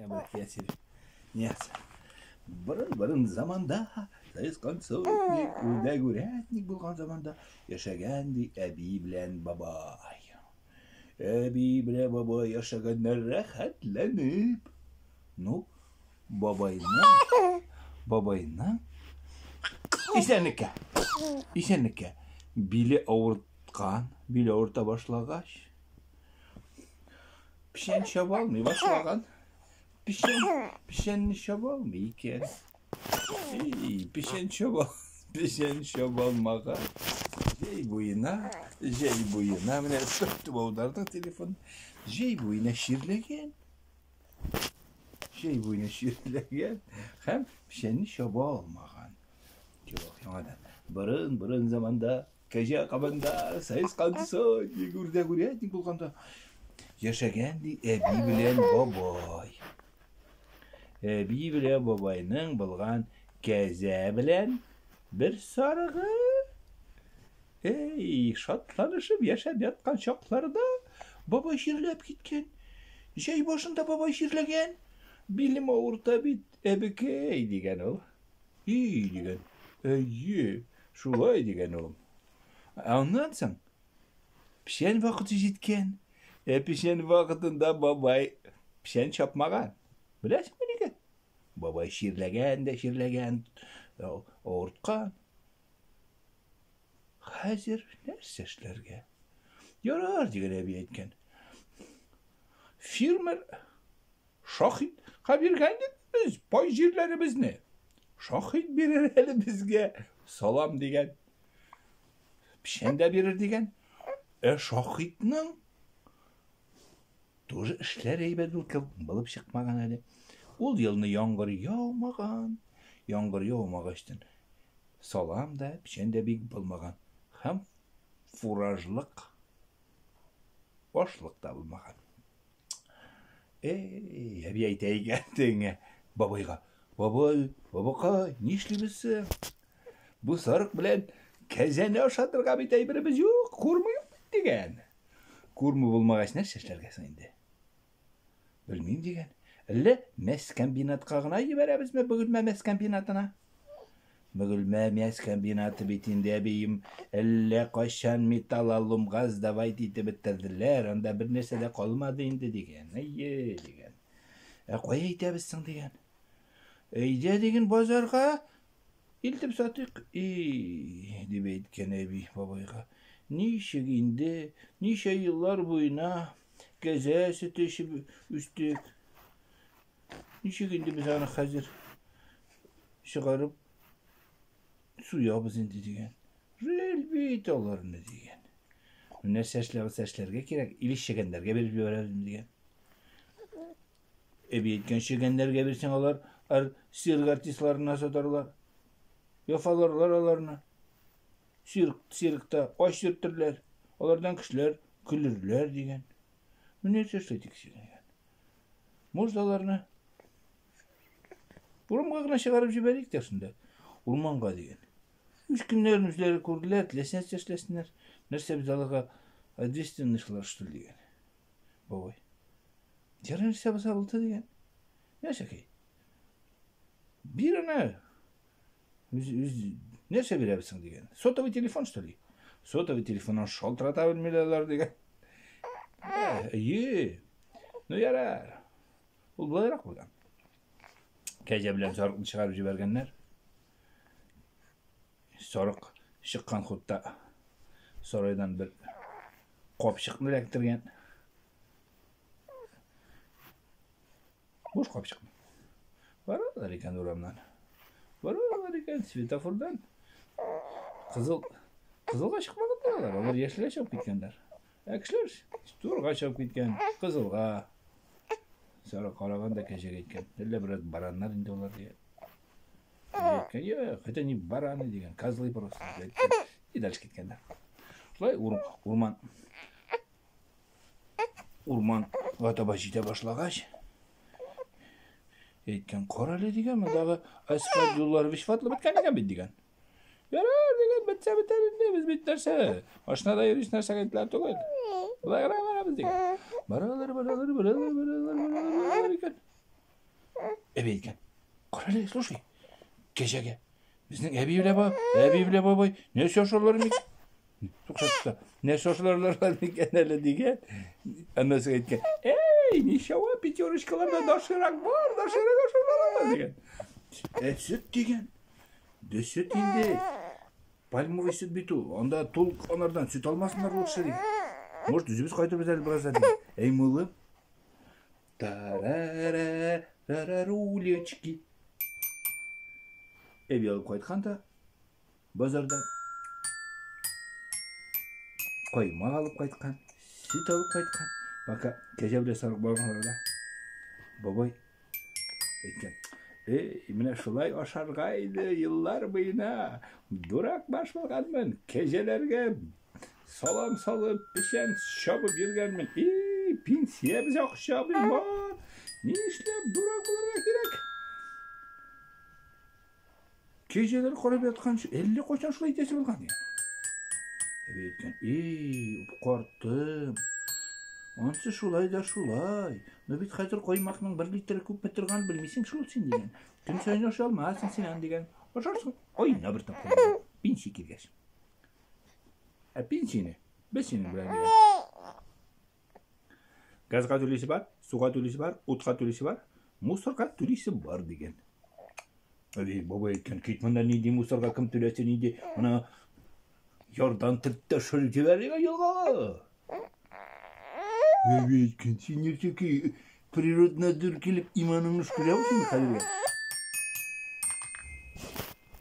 Обращатель. Нет. Бырын-бырын заманда, сез концертник, үрдәк үрәтник булган заманда яшәгән ди әби белән бабай. Әби белән бабай яшәгәннәр рәхәтләнеп. Ну, бабайның, бабайның исәнлеккә, исәнлеккә биле авырт Кан биле орта башлагач, печән чаба алмый башлаган. Печән, печәнне чаба алмый икән. Эй, печән чаба, печән чаба алмага. Җәй буена, җәй буена, менә сөртеп аудардың телефон. Җәй буена ширләгән. Җәй буена ширләгән һәм печәнне чаба алмаган. Юк, яңадан. Борын, борын заманда Кәҗә кабында сез калдыса, дип үрдәк үрәтник булганда яшәгән ди әби белән бабай. Әби белән бабайның булган кәзә белән бер сарыгы. Эй, шатланышып яшәп яткан чакларда бабай чирләп киткән. Җәй башында бабай чирләгән. Билем авырта бит, әбекәй, дигән ул. И, дигән. Әйе, шулай, дигән улым. Аннан соң печән вакыты җиткән. Ә печән вакытында бабай печән чапмаган. Беләсеңме нигә? Бабай чирләгән дә чирләгән, авырткан. Хәзер нәрсә эшләргә? Ярар, дигән әби әйткән. Фермер Шаһитка биргән бит без бай җирләребезне. Шаһит бирер әле безгә салам дигән. Печән дә бирер дигән. Ә Шаһитның тоже эшләр әйбәт булып чыкмаган әле. Ул елны яңгыр яумаган. Яңгыр яумагачтын салам да, печән дә бик булмаган. Һәм фуражлык башлык та булмаган. Эй, әби әйтәйгә теңә бабайга. Бабай, бабакай, нишлибез соң? Бу сарык белән кәзәне ашатырга бит әйберебез юк, курмы юк бит дигән. Курмы булмагач нәрсә эшләргә соң инде? Белмим дигән. Әллә мәскомбинатка гына җибәрәбезме, бөгелмә мәскомбинатына? Бөгелмә мясокомбинаты бит инде, әбием, әллә кайчан металлоломга сдавать итеп бетерделәр, анда бернәрсә дә калмады инде, дигән. Әйе, дигән. Ә кая итәбез соң, дигән. Әйдә, диген, базарга илтеп сатыйк. И, дип әйткән әби бабайга. Ничек инде, ничә еллар буена кәзә сөте эчеп үстек. Ничек инде без аны хәзер чыгарып суябыз инде дигән. Жил бит аларны дигән. Нәрсә эшләгән сәшләргә кирәк, или чегәннәргә биреп җибәрәлем дигән. Эби әйткән чегәннәргә бирсәң алар ар сирк артистларына сатарлар. Яфаларлар аларны. Сирк, сиркта ач сөртерләр. Алардан кешеләр көлерләр дигән. Менә нәрсә эшләдек син. Морзаларны урамга гына чыгарып җибәрик тә шунда, урманга дигән. Үз көннәрен үзләре күрделәр, теләсә эшләсеннәр, нәрсә без аларга ответственностьлар что ли дигән. Бабай. Дәрән нәрсә булса булды дигән. Нәрсәкәй? Бир аны. нәрсә бирәбез соң дигән сотовый телефон что ли сотовый телефоннан шалтырата белмиләр алар дигән әйе ну ярар ул болайрак булган кәҗә белән сарыкны чыгарып җибәргәннәр сарык чыккан хутта сарайдан бер капчыкны эләктергән Буш капчык. Баралар икән урамнан. Баралар икән светофордан. Кызыл кызылга чыкмаган торалар. Алар яшелгә чыгып киткәннәр. Ә кешеләр турга чыгып киткән, кызылга. Сара караган да кәҗәгә әйткән. Әллә бераз бараннар инде алар дигән. Әйткән, юк, это не бараны дигән, козлы просто. И дальше киткәннәр. Шулай урман Урманга таба җитә башлагач, әйткән, кара әле дигән, мондагы Айсфат Юлларович фатлы беткән икән бит дигән. Ярар дигән, бетсә бетәр инде, без бит нәрсә, машинада йөрүче нәрсәгә итләр түгел. Болай гына барабыз дигән. Баралар, баралар, баралар, баралар, баралар, баралар икән. Әбей әйткән. Карале, слушай. Кәҗәгә. Безнең әби белә бабай, әби белә бабай. Нәрсә ашарлар мик? Тукшатта. Нәрсә ашарлар мик әле дигән. Аннасы әйткән. Эй, ничава пятерочкаларда дашырак бар, дашырак ашарлар дигән. Ә сөт дигән. Дә сөт инде. Пальмовый сөт бит ул. Анда тул анардан сөт алмасыннар лучше дигән. Может, үзебез кайтып бетәле бераз әле. Әй, мулы. Тарарарарарулечки. Эви алып кайтканда базарда коймак алып кайткан, сөт алып кайткан. Пока кәҗә белән сарык барганнарда бабай әйткән. Эй, менә шулай ашарга иде еллар буена. Дурак баш булганмын, кәҗәләргә Салам салып, печән чабып йөргәнмен. И, пенсия без акча бар. Ни эшләп дурак булырга кирәк? Кеҗелер карап яткан шул. Әллә кайчан шулай итәсе булган икән. Әби әйткән, "И, картым. Ансы шулай да шулай. Ну бит хәзер коймакның 1 литры күпме торган белмисең шул син" дигән. Көн сайын ашалмасын син ан дигән. Ашарсың, айына бер тапкыр. Пенсия килгәч. Әпин сине. Без синең белән дигән. Газга түлисе бар, суга түлисе бар, утка түлисе бар, мусорга түлисе бар дигән. Әби бабай әйткән, кит монда нинди мусорга кем түләсен нинди ана ярдан тертте шыр җибәрергә елгага. Әби әйткән, син ничеки природнадзор килеп иманыңны шкүрәү син хәлгә.